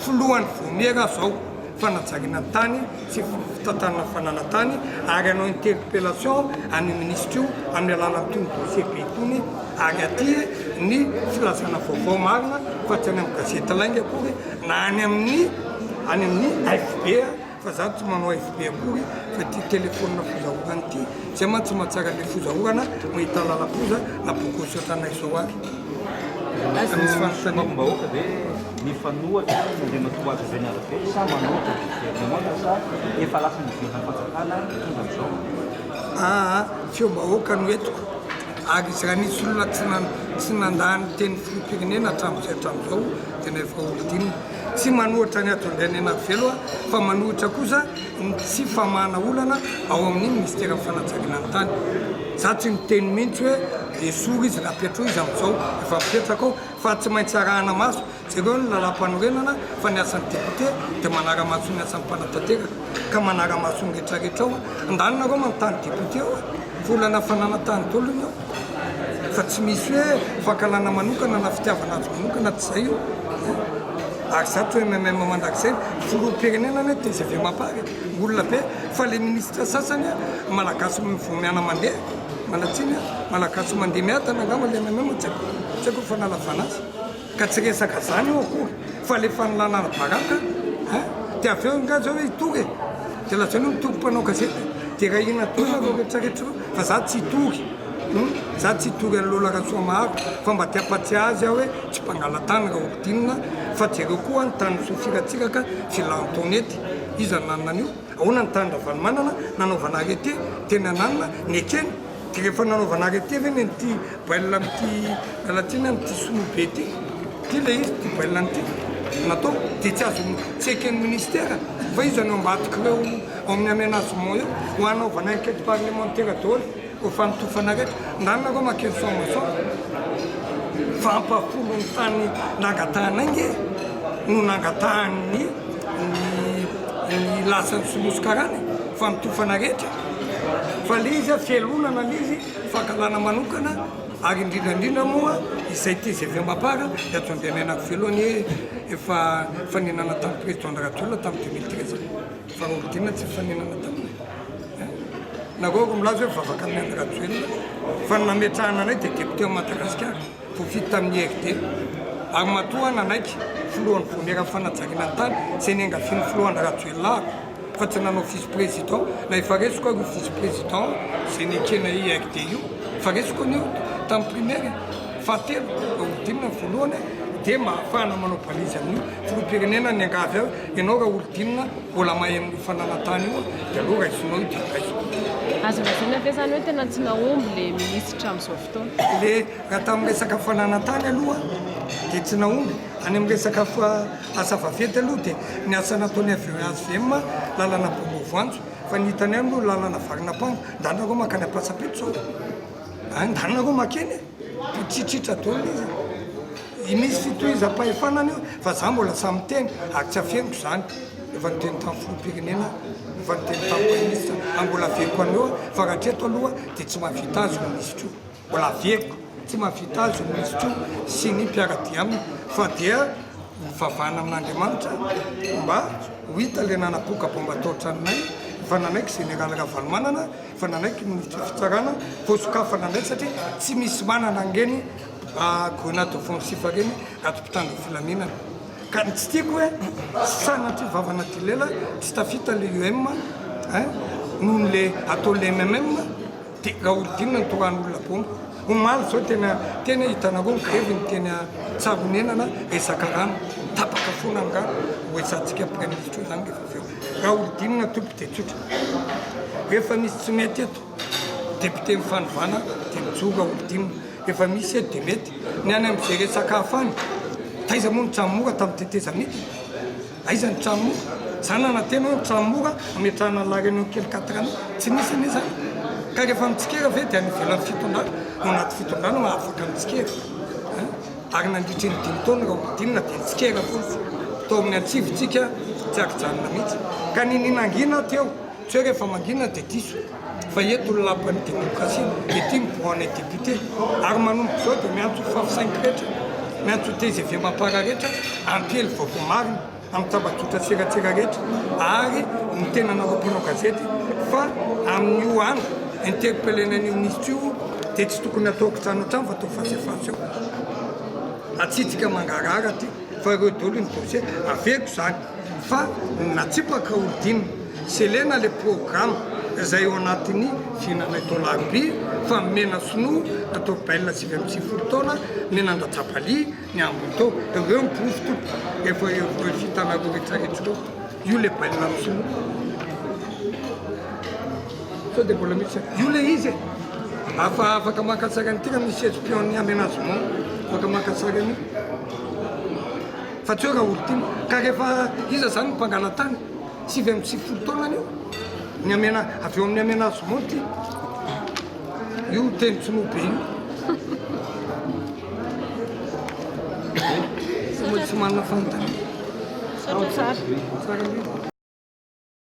filohan'ny Vaomiera zao fanajariana tany sy fitantanana fananantany ary hanao interpellation an'io ministra io amin'ny alalan'itony dossier be itony ary aty ny filazana vaovao marina fa tsy any amin'ny gazety lainga akory na any amin'ny any amin'ny AFB Fa za tsy manao FB akory fa ty telefonina fozaorana ty, zay mantsy tsy mahatsara le fozaorana mahita lalafoza na bokosotra anay zao ary tsy misy fanontaniana. Sokafim-bahoaka ve mifanohatra ny Andriamatoa Azo Rajaonarivelo sa manohitra ny governemanta sa efa lasa niverina ny fanjakana mitondra amin'izao? Aa, feom-bahoaka no entiko ary izy raha nisy olona tsy nandà ny tenin'ny filoham-pirenena hatramin'izay hatramin'izao dia na efa horidinina. Tsy manohitra ny Andriandrianenary Velo aho fa manohitra kosa ny tsy famahana olana ao amin'ny Minisiteran'ny Fanatsageana ny Tany. Za tsy niteny mihintsy hoe esory izy na petro izy amin'izao efa mipetraka ao fa tsy maintsy arahana maso jereo ny Lalàmpanorenana fa ny asan'ny Député dia manara-maso ny asan'ny Mpanatanteraka ka manara-maso ny retraretra ao an-daniny nareo manontany Député eo fa olana fananantany daholo ny ao. Fa tsy misy hoe fankahalana manokana na fitiavana azy manokana tsy zay io eh! Ary za toy ny MM mandrakizay ny filoham-pirenena anie tgv mapar e! Olona be fa le ministra sasany eh! Malagasy vao miana mandeha manatsiny eh! Malagasy mandeha miadana angamba le MM tsy haiko, tsy haiko ny fanalavana azy. Ka tsy resaka zany io akory fa le fanalana ara-baraka an! de avy eo nga zao hitory e! de lazainao mitory mpanao gazety de raha ina toy nareo retraretra reo fa za tsy hitory hum! za tsy hitory an'i Lola Rasoamaharo fa mba te hampatsiahy azy aho hoe tsy mpangalatany Raholdina fa jereo koa an tany Soafiratsiraka sy Lantonety iza nanana an'io? Ahoana ny tany Ravalomanana nanaovana arrete teny ananona nekeny de rehefa nanaovana arrete ve neny ty bail amty lalatina amty sinoa be ty ty le izy ty bail nty natao de tsy azo tsy eken'ny ministère fa io zany ao ambadikireo ao amin'ny aménagement eo ho anaovana enquête parlementaire daholo Koa fanotofana rehetra nanareo makeny sao maso fa ampahafolo ny tany nangatahanay nge no nangatahan'ny ny lasan'ny soloso karana fanotofana rehetra fa le izy fialonana le izy fankalana manokana ary indrindra indrindra moa izay tgv mapara de ato andehanana ko velony e efa fanenana tamin'ny président ndRajoelina tamin'ny deux mille treize fa raha olon-tiana tsy mifanenana taminy Na koa aoka milaza hoe vavaka amin'i Andry Rajoelina fa ny nametrahana anay dia député amin'i Madagasikara, voafidy tamin'ny IRD, ary matoa nanaiky filohan'ny Vaomieran'ny Fanajariana ny Tany izay niangavian'ny filoha Andry Rajoelina aho fa tsy nanao vice président na efa resiko ary io vice président izay nekena IRD io fa resiko anio tamin'ny primaire fahatelo, roa amby dimy na voalohany dia mba ahafahana manao balise amin'io filoham-pirenena niangavy ahy Ianao Raholdina mbola mahay amin'io fananan-tany io dia aleo raisinao io dia raiso. Azo lazaina ve zany hoe tena tsy nahomby le minisitra amin'izao fotoana? Le raha tamin'ny resaka fananan-tany aloha dia tsy nahomby. Any amin'ny resaka asa vaventy aloha dia ny asa nataon'ny hvm lalana baomba voanjo fa ny hitanay aloha lalana varina pango. Ndany nareo mankany Ampatsapetro zao a! Ndany nareo makeny e! Mitritritra daholo izy. I misy fitohizam-pahefana any io fa za mbola sahy miteny ary tsy afeniko izany efa niteny tamin'ny filoham-pirenena efa niteny tamin'ny praiministra ary mbola avehiko any eo fa raha hatreto aloha dia tsy mahavita azy ny misy koa mbola avehiko tsy mahavita azy ny misy koa sy ny mpiara-dia aminy fa dia mivavahana amin'Andriamanitra mba ho hita ilay nanapoaka baomba tao an-tranonay efa nanaiky Général Ravalomanana efa nanaiky ny ministra fitsarana voasokafana indray satria tsy misy manana ange ny Ah grenade offensive reny ato mpitandro filaminana ka ny tsy tiako hoe sanatria vavana ty lela tsy tafita le UM eh noho le atao le MMM de raholdina ny toran'olona bomba omaly zao tena tena hitanareo ny grevy ny tena tsaronenana resaka rano tapaka foana ny rano hoesantsika praiministra zany rehefa avy eo raholdina topy de tsotra rehefa misy tsy mety eto Député mifanovana de mijoro aho dim efa misy eto de mety ny any am ze resaka hafa any taiza moa ny trano mora tam teteza midina aiza ny trano mora za nanantena aho ny trano mora ametrahana ny la reunion kely quatre ans tsy nisy anie zany ka refa mitsikera ve de any ivelan'ny fitondrana ao anaty fitondrana no afaka mitsikera an ary nandritry ny dimy taona raha hodinina de nitsikera foana tao amin'ny antsivontsika tsy aky-janona mihitsy ka niniana angina aho teo Tsy hoe rehefa mangina dia diso fa eto ny lapan'ny demokrasia dia ity ny banc anay député ary manomboka izao dia miantso ho favisain'ny rehetra, miantso ho tgv mampararetra ampiely vaovao marina amin'ny tambajotra sy eratsera rehetra ary miteny anareo mpanao gazety fa amin'io andro interpellena an'io minisitra io dia tsy tokony hatao kitrano hatrany fa atao face à face eo atsitsika mangarahara aty fa ireo daholo ny dossier averiko izany. fa natsipaka Houdin sy Elena le programa izay ao anatin'ny fihinanay tao Larbi fa mena sinoa atao belle sivy amby sivifolo taona ny nandatsabali ny ambiny tao ireo ny porofo tompoko efa ireo fitanareo retsaretsy ireo io le belle amin'ny sinoa sao dia mbola misy io le izy e afa afaka maka tsara ny tira misy espion ny amenazement afaka maka tsara ny Fa tsy hoe Raholdina. Ka rehefa iza izany no mpangalatany? Sivy amby sivifolo taona anio ny amena, avy eo amin'ny amenagement ity. Io teny tsinoa be io. Tsy manana fanontaniana. Misaotra tsara.